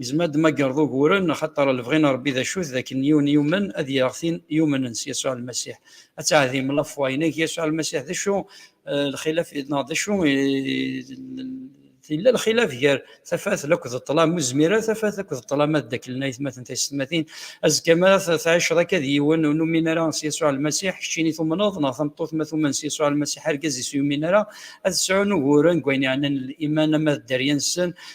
Yezmer ad d-magreḍ uguren, axaṭer lebɣi n Rebbi d acu-t, d akken yiwen yumen ad yaɣ tin yumnen s Yasuɛ Lmasiḥ. Ad teɛdim la foi, nag Yasuɛ Lmasiḥ d acu? Lxilaf neɣ d acu? Yella lxilaf gar tafat la akked ṭṭlam, ur zmir ara tafat la akked ṭṭlam ad ddaklen ayetmaten taysetmatin. Azekka mi ara tɛiceḍ akka d yiwen ur numin ara s Yasuɛ Lmasiḥ, keččin i tumneḍ, neɣ tameṭṭut ma tumen s Yasuɛ Lmasiḥ argaz-is ur yumin ara, ad sɛun uguren deg wayen yeɛnan liman ama d dderya-nsen,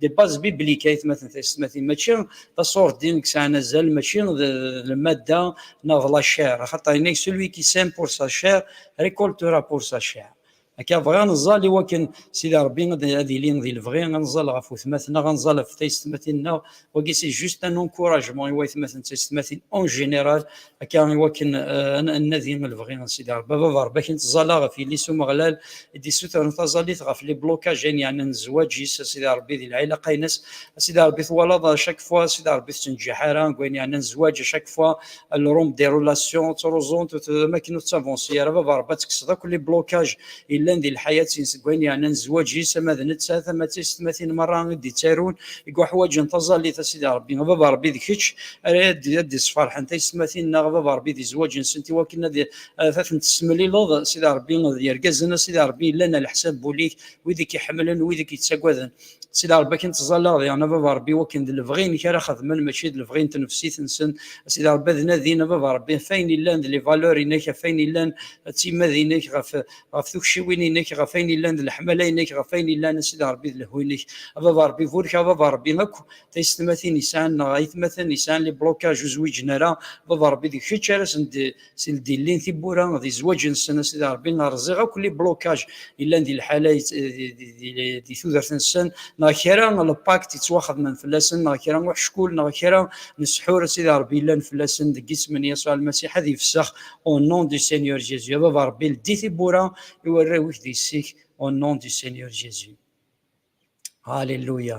d baz biblik ay tmatin tayessetmatin mačči d aṣurdin i yesɛan azal mačči d lmadda neɣ d lacer axaṭer yenna-ak celui qui sème pour sa chair récoltera pour sa chair akka bɣiɣ ad neẓẓal i wakken Sidi Ṛebbi ad yili di lebɣi ad neẓẓal ɣef wetmaten-nneɣ ad neẓẓal ɣef taysetmatin-nneɣ wagi c'est juste un encouragement i waytmaten d taysetmatin en général akka iwakken eh, ad nadi lebɣi n Sidi Rebbi baba Rebbi akin tẓala ɣef yelli-s Umeɣlal i d-issutren taẓallit ɣef li blokaj ayen yeɛnan zzwaǧ-is a Sidi Rebbi di lɛilaq aynas a Sidi Rebbi twalaḍ à chaque fois Sidi Rebbi tettenǧiḥ ara deg wayen yeɛnan zzwaǧ à chaque fois le rhum des relations ttruẓunt am akken ur tettavansi ara baba Rebbi ad tekkseḍ akk li blokaj yellan di lḥayat-in seg wayen yeɛnan zzwaǧ-is, ama d nettat ama d tiysetmatin merra i d-ittarun i yuḥwaǧen taẓallit, a Sidi Ṛebbi, a Baba Ṛebbi d kečč ara ad d-isferḥen taysetmatin-nneɣ, a Baba Ṛebbi, di zzwaǧ-nsent i wakken ad tent-tessemlileḍ, Sidi Ṛebbi, d yergazen, a Sidi Ṛebbi, yellan ɛla ḥsab wul-ik, wid i k-iḥemmlen, wid i k-yettagaden. si Rebbi akin ttẓallaɣ diɣen a baba Rebbi wakken d lebɣi-inek ara xedmen mačči d lebɣi n tnefsit-nsen a Sidi Rebbi ad nadin a baba Rebbi ɣef ayen illan d les valeurs-inek ɣef ayen illan d timmad-inek ɣef ɣef tukciwin-inek ɣef ayen illan d leḥmala-inek ɣef ayen illan a Sidi Rebbi d lehhu-inek a baba Rebbi burek a baba Rebbi akk taysetmatin yesɛan neɣ aytmaten yesɛan les blocages ur zwiǧen ara baba Rebbi d kečč ara sen si ldillin tibbura d izwaǧ-nsen a Sidi Ṛebbi rẓiɣ akk li blokaj yellan di lḥala di tudert-nsen neɣ kra lpakt yettwaxedmen fell-asen neɣ kra uḥeckul neɣ kra n ssḥur a Sidi Ṛebbi yellan fell-asen deg isem n Yasuɛ Lmasiḥ ad ifsex au nom du Seigneur Jésus a Baba Ṛebbi ldi tibbura i warraw-ik d yessi-k au nom du Seigneur Jésus Alléluia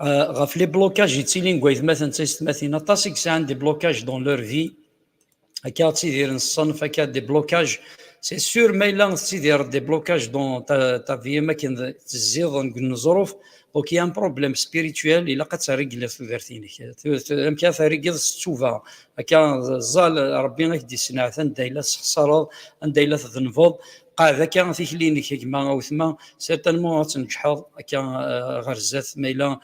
Euh, ɣef les blocages yettilin deg waytmaten d taysetmatin aṭas i yesɛan des blocages dans leur vie akka ad tidiren ṣṣenf akka des blocages c'est sûr ma yella tettidireḍ des blocages dans ta, ta vie am akken tezziḍ deg uneẓruf donc il y a un problème spirituel ilaq ad terrigleḍ tudert-inek amek ara terrigleḍ s ttuba akka ẓẓal rebbi ak d-yesneɛt anda yella tessexsareḍ anda yella tdennbeḍ Qɛed akka tikli-inek a gma awetma, certainement ad tneǧḥeḍ akka ɣer zdat ma yella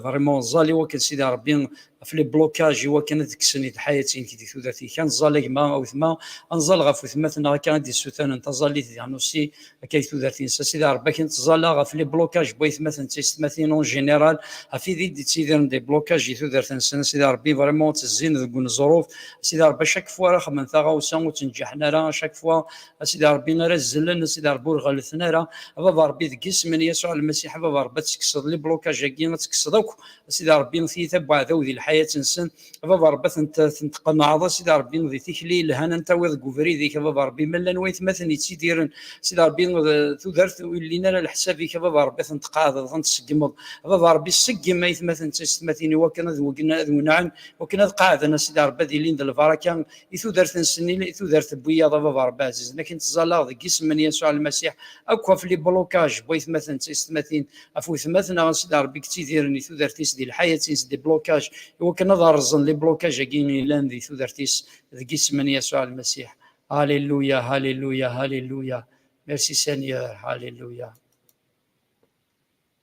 vraiment ẓẓal i wakken Sidi Rebbi ɣef les blocages i wakken ad kksen i lḥayat-inek di tudert-ik. Ad nẓal a gma awetma, ad nẓal ɣef wetmaten-nneɣ akka i d-yessutanen taẓallit di Ḥnussi akka i tudert-ines. A Sidi Rebbi akken ttẓalla ɣef les blocages n waytmaten d teysetmatin en général, ɣef wid i d-yettidiren des blocages di tudert-nsen, a Sidi Rebbi vraiment ttezzin deg uneẓruf, a Sidi Rebbi à chaque fois ara xedmen taɣawsa ur ttneǧǧiḥen ara, à chaque fois a sidi rebbi ara zzelen a sidi rebbi ur ɣellten ara a baba rebbi deg isem n yasuɛ lmasiḥ a baba rebbi ad tekkseḍ liblukaj agi ad tekkseḍ akk a sidi rebbi tiyita n uɛdaw di lḥayat nsen a baba rebbi ad ten-tqenɛeḍ a sidi rebbi di tikli yelhan an tawiḍ deg ubrid-ik a baba rebbi ma llan waytmaten yettidiren a sidi rebbi tudert ur llin ara leḥsab-ik a baba rebbi ad ten-tqeɛdeḍ ad ten-tseggmeḍ a baba rebbi seggem aytmaten d taysetmatin iwakken ad wenɛen wakken ad qeɛden a sidi rebbi ad ilin d lbaraka i tudert n Senil, i tudert n wiyaḍ a baba Rebbi ɛzizen akin ttẓallaɣ deg isem n Yasuɛ Lmasiḥ akk ɣef li blocage n waytmaten d taysetmatin, ɣef wetmaten a Sidi Rebbi i yettidiren di tudert-is di lḥayat-ins di blocage i wakken ad rrẓen li blocage-agi yellan di tudert-is deg isem n Yasuɛ Lmasiḥ. Alléluia, Alléluia, Alléluia, Merci Seigneur, Alléluia.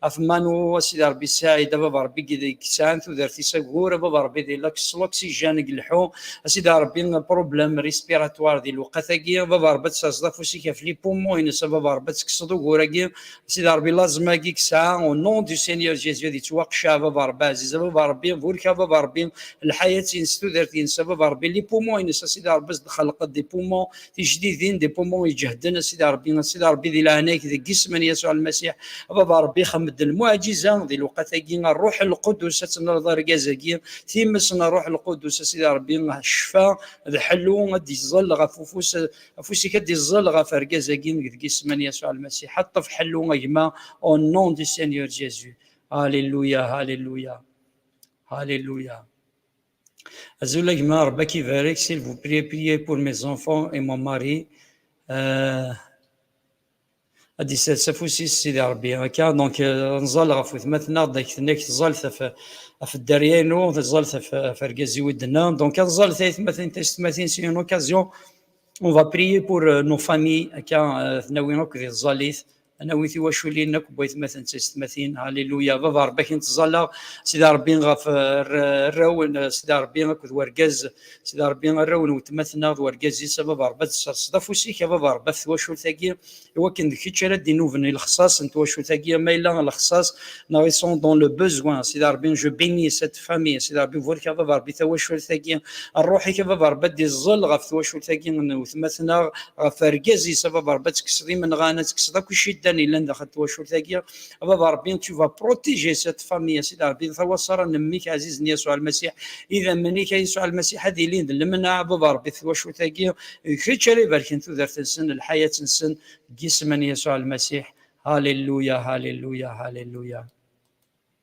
Atemanu, a Sidi Rebbi Ssaɛid, a Baba Rebbi deg yesɛan tudert-is agur, a Baba Rebbi di laks s l'oxygène deg leḥḥu, a Sidi Rebbi problème respiratoire di lewqat-agi, a Baba Rebbi ad d-taseḍ afus-ik ɣef les poumons-ines, a Baba Rebbi ad tekkseḍ ugur-agi, a Sidi Rebbi l'asthme-agi i yesɛa, au nom du Seigneur Jésus ad yettwaqceɛ, a Baba Rebbi aɛziz, a Baba Rebbi burek, a Baba Rebbi lḥayat-ines, tudert-ines, a Baba Rebbi les poumons-ines, a Sidi Rebbi ad as-d-txelqeḍ des poumons tijdidin des poumons iǧehden a sidi rebbi a sidi rebbi di leɛnag deg isem n yasuɛ lmasiḥ a baba rebbi xemmed lmuɛjiza di lewqat-agi a ṛṛuḥ lqudus ad tenreḍ argaz-agi times n ṛṛuḥ lqudus a sidi rebbi ccfa d ḥellu ad d-iẓẓel ɣef ufus afus-ik ad d-iẓẓel ɣef argaz-agi deg isem n yasuɛ lmasiḥ a ṭṭef ḥellu a gma au nom du Seigneur Jésus Alléluia Alléluia Alléluia Azulek ma Rebbi ak ibarek, s'il vous plaît, priez pour mes enfants et mon mari. Euh, ad d-isers afus-is Sidi Rebbi akka donc euh, nẓal ɣef wetmaten-aɣ d ak-tnek ẓẓalet ɣef ɣef dderya-inu ẓẓalet ɣef argaz-iw i d-nna donc ad ẓẓalet aytmatin taysetmatin c'est une occasion on va prier pour euh, nos familles akka euh, tnawin akk di tẓalit Anawit i waculin akk n waytmaten d teysetmatin. Haliluya! A Baba Rebbi, ad k-nettẓalla, Sidi Rebbi, ɣef rraw n Sidi Rebbi akked wergaz, Sidi Rebbi, arraw n wetmaten-a d wergaz-is, a Baba Rebbi, ad tesserseḍ afus-ik, a Baba Rebbi, ɣef twacult-agi, iwakken d kečč ara d-inuben i lexṣaṣ n twacult-agi, ma yella lexṣaṣ, neɣ ils sont dans le besoin, Sidi Rebbi, je bénis cette. tifxamin s Rebbi burik a baba Rebbi tawacult-agi n ṛṛuḥ-ik a baba Rebbi ad d-iẓẓel ɣef twacult-agi n wetma-tneɣ ɣef argaz-is a baba Rebbi ad tekkseḍ imenɣan ad tekkseḍ akk iciddan yellan daxel n twacult-agi a baba Rebbi tu vas protéger cette famille a Sidi Rebbi tawaṣara n mmi-k ɛzizen Yasuɛ Lmasiḥ idammen-ik a Yasuɛ Lmasiḥ ad ilin d lemneɛ a baba Rebbi twacult-agi d kečč ara ibarken tudert-nsen lḥayat-nsen deg yisem n Yasuɛ Lmasiḥ Hallelujah Hallelujah Hallelujah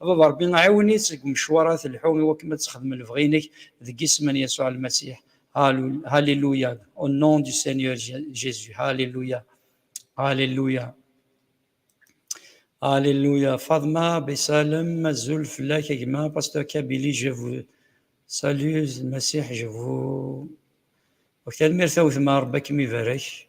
A Baba Ṛebbi, ɛiwen-itt deg umecwar ara telḥu i wakken ad texdem lebɣi-inek, deg yisem n Yasuɛ Lmasiḥ, Hallelujah, au nom du Seigneur Jésus, Hallelujah, Hallelujah. Alléluia. Fadma Bessalem, Azul Flak Egma, Pasteur Kabili, je vous salue, Messie, je vous. Ok, merci à vous, Rebbe akem ibarek.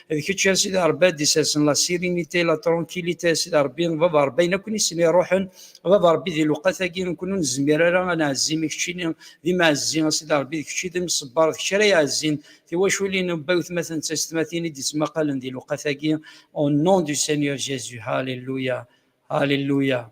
d kečč a sidi rebbi ad d-isasen la sirinite la tronkilite a sidi rebbi baba rebbi ayen akk nissen iruḥen baba rebbi di lewqat-agi nekkni ur nezmir ara ad nɛezzi mi keččini d imɛezzi a sidi rebbi d kečči d imṣebber d kečč ara iɛezzin tiwaculin n bba wetmaten d testmatin i d-ittmaqalen di lewqat-agi au nom du Seigneur Jésus Alléluia Alléluia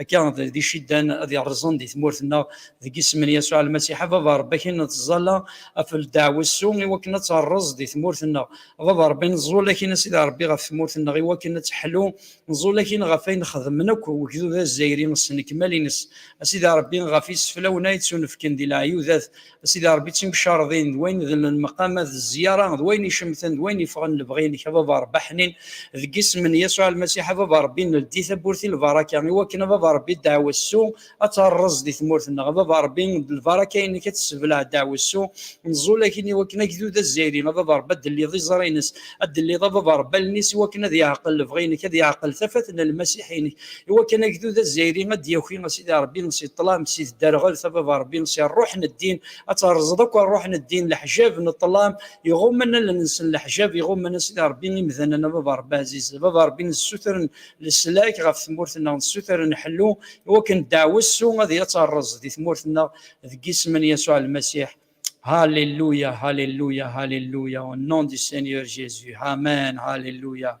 Akka, d iciddan ad yerrẓen di tmurt-nneɣ, deg isem n Yasuɛ Lmasiḥ, a Baba Ṛebbi, akin nettẓalla ɣef ldeɛwessu i wakken ad terreẓ di tmurt-nneɣ. A Baba Ṛebbi, nẓul akin a Sidi Ṛebbi ɣef tmurt-nneɣ i wakken ad teḥlu, nẓul akin ɣef ayen xedmen akk wegdud azzayri s nnekmal-ines, a Sidi Ṛebbi, ɣef iseflawen ay ttunefken di leɛyudat, A Sidi Ṛebbi, d timcarḍin, d wayen d lmeqamat, d zziyara, d wayen icemten, d wayen yeffɣen lebɣi-inek, a Baba Ṛebbi, aḥnin, deg isem n Yasuɛ Lmasiḥ, a Baba Ṛebbi, neldi tawwurt i lbaraka, i wakken, a Baba Ṛebbi, ddeɛwessu ad terreẓ di tmurt-nneɣ, a Baba Ṛebbi, d lbaraka-inek ad tessebleɛ ddeɛwessu, nẓul akkin i wakken agdud azzayri, a Baba Ṛebbi, ad d-telliḍ iẓri-ines, ad d-telliḍ, a Baba Ṛebbi, allen-is i wakken ad yeɛqel lebɣi-inek, ad yeɛqel tafat n Lmasiḥ-inek, Iwakken agdud azzayri ad d-yaki a Sidi Ṛebbi si ṭṭlam, si tderɣelt, a Baba Ṛebbi, si ṛṛuḥ n ddin, ad terẓeḍ akk ṛṛuḥ n ddin, leḥjab n ṭṭlam iɣummen allen-nsen, leḥjab iɣummen a Sidi Ṛebbi imdanen, a Baba Ṛebbi ɛziz, a Baba Ṛebbi nessutren leslak ɣef tmurt-nneɣ, nessutren ḥellu iwakken ddeɛwessu ad yeţṛeẓ di tmurt-nneɣ, deg isem n Yasuɛ Lmasiḥ, Hallelujah, Hallelujah, Hallelujah, au nom du Seigneur Jésus, Amen, Hallelujah.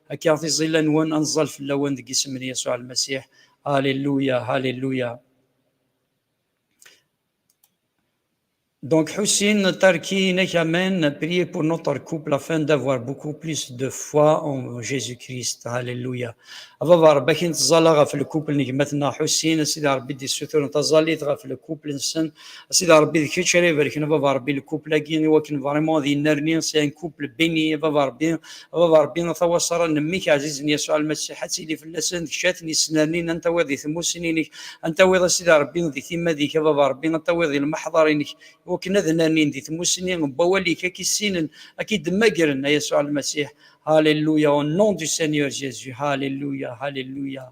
Akka tiẓilla-nwen ad nẓal fell-awen deg isem n Yasuɛ Lmasiḥ. Alléluia, Alléluia. Donc, Hussein Tarki Nekamen, priez pour notre couple afin d'avoir beaucoup plus de foi en Jésus-Christ. Alléluia. Baba Rabbi akin tẓala ɣef lkupel n gma-tneɣ Hussein, a Sidi Rabbi d-issuturen taẓallit ɣef lkupel-nsen. A Sidi Rabbi d kečč ara ibarken a Baba Rabbi lkupel-agi iwakken vraiment ad yennerni, c'est un couple béni a Baba Rabbi. Baba Rebbi, a tawaṣara n mmi-k ɛzizen Yasuɛ Lmasiḥ, ad tili fell-asen tekcat n yesnernin, ad n-tawiḍ di tmusni-inek, ad n-tawiḍ a Sidi Rebbi di timmad-ik, a Baba Rebbi, ad tawiḍ di lmeḥḍar-inek, iwakken ad nernin di tmusni n wawal-ik, ad k-issinen, ad k-id-mmagren, a Yasuɛ Lmasiḥ. Hallelujah, au nom du Seigneur Jésus, Hallelujah, Hallelujah.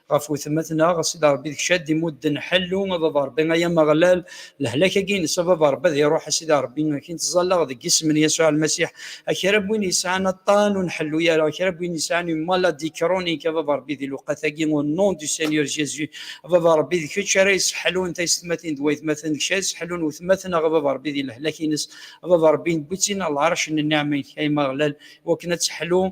ɣef wetmaten-a, ɣas d Ṛebbi d kečč ad d-imudden ḥellu, a baba Ṛebbi, ay Ameɣlal, lehlak-agi-ines, a baba Ṛebbi, ad iṛuḥ, a sidi Ṛebbi, akin ţẓallaɣ deg isem n Yasuɛ Lmasiḥ, a kra n win yesɛan aṭṭan ur nḥellu ara, a kra n win yesɛan une maladie chronique, a baba Ṛebbi, di lewqat-agi, au nom du Seigneur Jésus, a baba Ṛebbi, d kečč ara yesseḥlun taysetmatin d waytmaten, d kečč ara yesseḥlun wetmaten-a, a baba Ṛebbi, di lehlak-ines, a baba Ṛebbi, newwi-ţ-in ɣer lɛerc n nniɛma-ik, ay Ameɣlal, iwakken ad teḥlu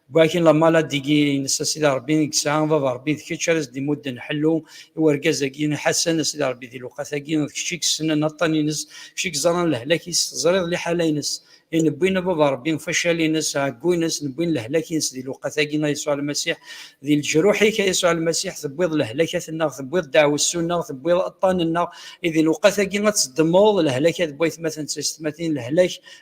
Gwakin lamala digi ines a sidi Rebbi i yesɛa baba Rebbi d kečč ara s-d-imudden ḥellu i urgaz agi Ḥasan a sidi Rebbi di lewqat agi d kečč i yessnen aṭṭan ines kečč i yeẓran lehlak is teẓriḍ liḥala ines i newwin a baba Rebbi facal ines ɛeggu ines newwin lehlak ines di lewqat agi a Yasuɛ Lmasiḥ di leǧruḥ ik a Yasuɛ Lmasiḥ tewwiḍ lehlekat nneɣ tewwiḍ deɛwessu nneɣ tewwiḍ aṭṭan nneɣ i di lewqat agi a tzeddmeḍ lehlaka d waytmaten d taysetmatin lehlak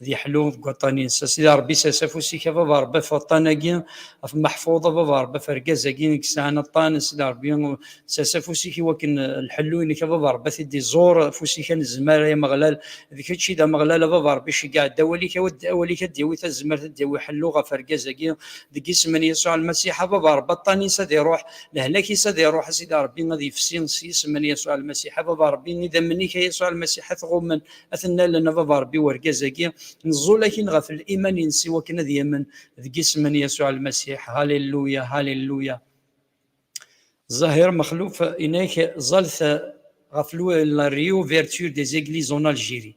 ad yeḥlu deg waṭṭan-ines a sidi ṛebbi sers afus-ik a baba ṛebbi af waṭṭan-agi af maḥfuḍ a baba ṛebbi af argaz-agi i yesɛan aṭṭan a sidi ṛebbi sers afus-ik i wakken lḥellu-inek a baba ṛebbi a t-id-iẓur afus-ik a nezmer ay ameɣlal d kečč i d ameɣlal a baba ṛebbi ceggeɛ-d awal-ik awal-ik ad d-yawi tazmert ad d-yawi ḥellu ɣef argaz-agi deg isem n Yasuɛ Lmasiḥ a baba ṛebbi aṭṭan-is ad iṛuḥ lehlak-is ad iṛuḥ a sidi ṛebbi ad yefsi s yisem n Yasuɛ Lmasiḥ a baba ṛebbi idammen-ik a Yasuɛ Lmasiḥ a t-ɣummen ad ten-nallen a baba Rebbi urgaz-agi, neẓẓul akin ɣef liman-ines i wakken ad yamen deg isem n Yasuɛ Lmasiḥ. Haliluya, haliluya! Zahir Mexluf inek ẓẓalt ɣef la réouverture des églises en Algérie.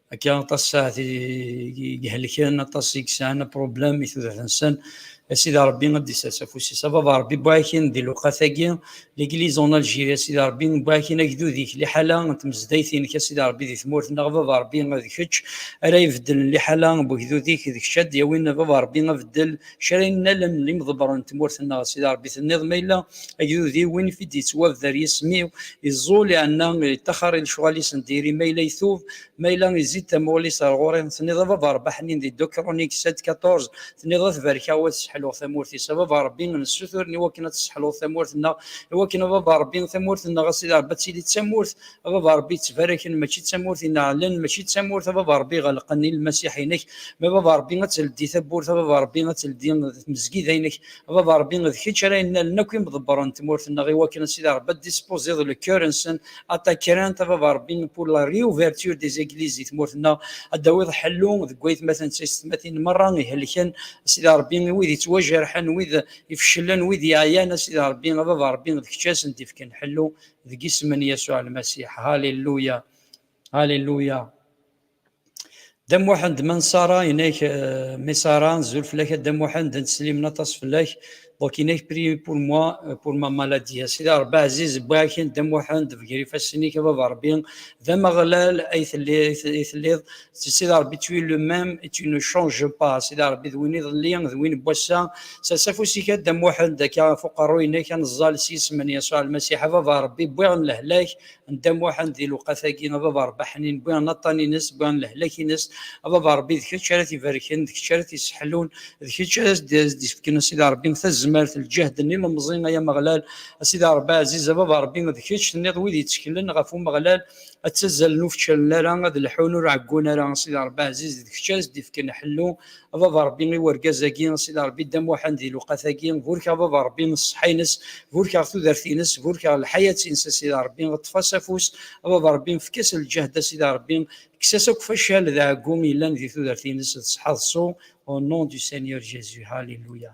Akka aṭas saɛet i ihelken, aṭas i yesɛan apṛublem i tudert-nsen. A Sidi Ṛebbi ad d-isers afus-is. A Baba Ṛebbi wwiɣ-ak-in di lewqat-agi, L'église en Algérie, a Sidi Ṛebbi, wwiɣ-ak-in agdud-ik, liḥala n tmezdayt-inek, a Sidi Ṛebbi, di tmurt-nneɣ, a Baba Ṛebbi, d kečč ara ibeddlen liḥala n wegdud-ik, d kečč ad d-yawin, a Baba Ṛebbi, abeddel, kra n allen n yimḍebbren n tmurt-nneɣ, a Sidi Ṛebbi tenniḍ ma yella agdud-iw win i t-id-yettwabder yisem-iw, iẓẓul iɛenna, yeṭṭaxxer i lecɣal-is n diri, ma yella itub, ma yella izzi-d tamuɣli-s ar ɣur-i, tenniḍ a baba Ṛebbi aḥnin di Deux Chroniques sept quatorze, tenniḍ a t-barkeɣ u ad sseḥluɣ tamurt-is, a baba Ṛebbi nessuturen i wakken ad tesseḥluḍ tamurt-nneɣ, i wakken a baba Ṛebbi tamurt-nneɣ a Sidi Ṛebbi ad tili d tamurt a baba a rebbi ttbaraken mačči d tamurt i neɛlen mačči d tamurt a baba a rebbi ɣelqen i lmasiḥ-inek ma baba a rebbi ad teldi tawwurt a baba a rebbi ad teldi tmezgida-inek a baba a rebbi d kečč ara yennalen akk imḍebbren n tmurt-nneɣ i wakken a sidi a rebbi ad dispoziḍ le cœur-nsen a ta crainte a baba a rebbi pour la réouverture des églises di tmurt-nneɣ ad d-tawiḍ ḥellu deg waytmaten d taysetmatin merra ihelken a sidi a rebbi i wid yettwajerḥen wid ifecclen wid yeɛyan a sidi a rebbi a baba a rebbi d kečč a sen-d-ifken ḥellu deg isem n Yasuɛ Lmasiḥ. Haliluya! Haliluya! Dda Muḥend ma nṣara inek euh, mi ṣara nzul fell-ak a Dda Muḥend netteslimen aṭas fell-ak donc inek prier pour moi euh, pour ma maladie a Sidi Rebbi ɛziz bwakin Dda Muḥend bger ifassen-ik a Baba Rebbi d Ameɣlal ay telliḍ si Sidi Ṛebbi tu es le même et tu ne changes pas Sidi Ṛebbi d win iḍelli d win n wass-a sers afus-ik a Dda Muḥend akka ɣef uqerruy-nnek ad neẓẓal s yisem n Yasuɛ Lmasiḥ a Baba Ṛebbi wwiɣ-n lehlak n Dda Muḥend di lewqat-agi a Baba Ṛebbi aḥnin wwiɣ-n aṭṭan-ines wwiɣ-n lehlak-ines a Baba Ṛebbi d kečč ara t-ibarken d kečč ara t-isseḥlun d kečč ara s-d-ifken a Sidi Ṛebbi tazmert lǧehd n ilemẓi ay Ameɣlal a Sidi Ṛebbi aɛziz a Baba Ṛebbi d kečč tenniḍ wid yetteklen ɣef Umeɣlal Ad ttazzalen ur fčalen ara, ad lḥun ur ɛeggun ara, a Sidi Ṛebbi ɛziz, d kečč ara s-d-ifken ḥellu, a Baba Ṛebbi i urgaz-agi, a Sidi Ṛebbi Dda Muḥend di lewqat-agi, burek a Baba Ṛebbi s ṣṣeḥḥa-ines, burek aɣ tudert-ines, burek aɣ lḥayat-ines a Sidi Ṛebbi, ṭṭef-as afus, a Baba Ṛebbi efk-as lǧehd a Sidi Ṛebbi, kkes-as akk facal d ɛeggu yellan di tudert-ines d ṣṣeḥḥa d ṣṣu, au nom du Seigneur Jésus, Hallelujah.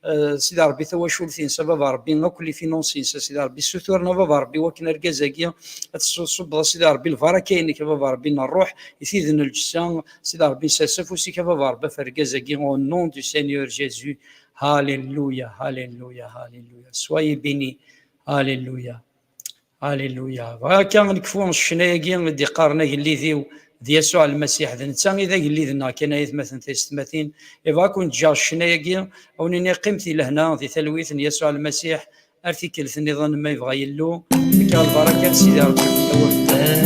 Eh, sidi rebbi tawacult-ines a baba rebbi akk lifinons-ines a sidi rebbi suturen a baba rebbi wakken argaz-agi ad tesubbeḍ a sidi rebbi lbaraka-inek a baba rebbi n ṛṛuḥ i tid n lǧessa sidi rebbi nsers afus-ik a baba rebbi af argaz-agi au nom du Seigneur Jésus Alléluia Alléluia Alléluia soyez bénis Alléluia Alléluia. Bɣiɣ akka ad nekfu ccna-agi i d-iqqaren agellid-iw d Yasuɛ Lmasiḥ, d netta i d agellid-nneɣ kan ay atmaten taysetmatin. Ibɣa ad ken-ǧǧeɣ ccna-agi, ad wen-iniɣ qqimet i lehna di talwit n Yasuɛ Lmasiḥ ar tikkelt niḍen ma yebɣa Yillu. Fekkeɣ lbaraka n Sidi Rebbi fell-awen.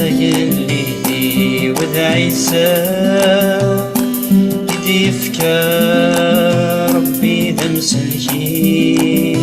Agellid-iw d Ɛisa i d-yefka Rebbi d amsellek-iw.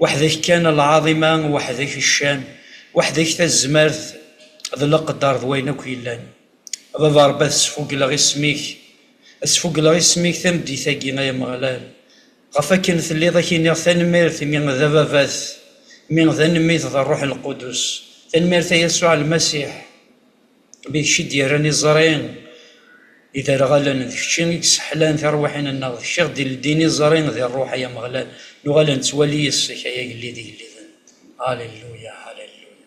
Weḥd-k kan a lɛaḍima, weḥd-k ccan, weḥd-k tazmart d leqder d wayen akk yellan. A Baba Ṛebbi ad sfuggleɣ isem-ik, ad sfuggleɣ isem-ik tameddit-agi ay Ameɣlal. Ɣef wakken telliḍ ad k-iniɣ tanemmirt imi d Ababat, imi d Anemit d Ṛṛuḥ Lqudus. Tanemmirt a Yasuɛ Lmasiḥ! Mi d kečč i d-yerran iẓri iderɣalen, d kečč i yesseḥlan tirwiḥin-nneɣ, d kečč i ɣ-d-ileddin iẓri di rruḥ, ay Ameɣlal, nuɣal ad nettwali yes-k, ay Agellid igelliden. Halelluya! Halelluya!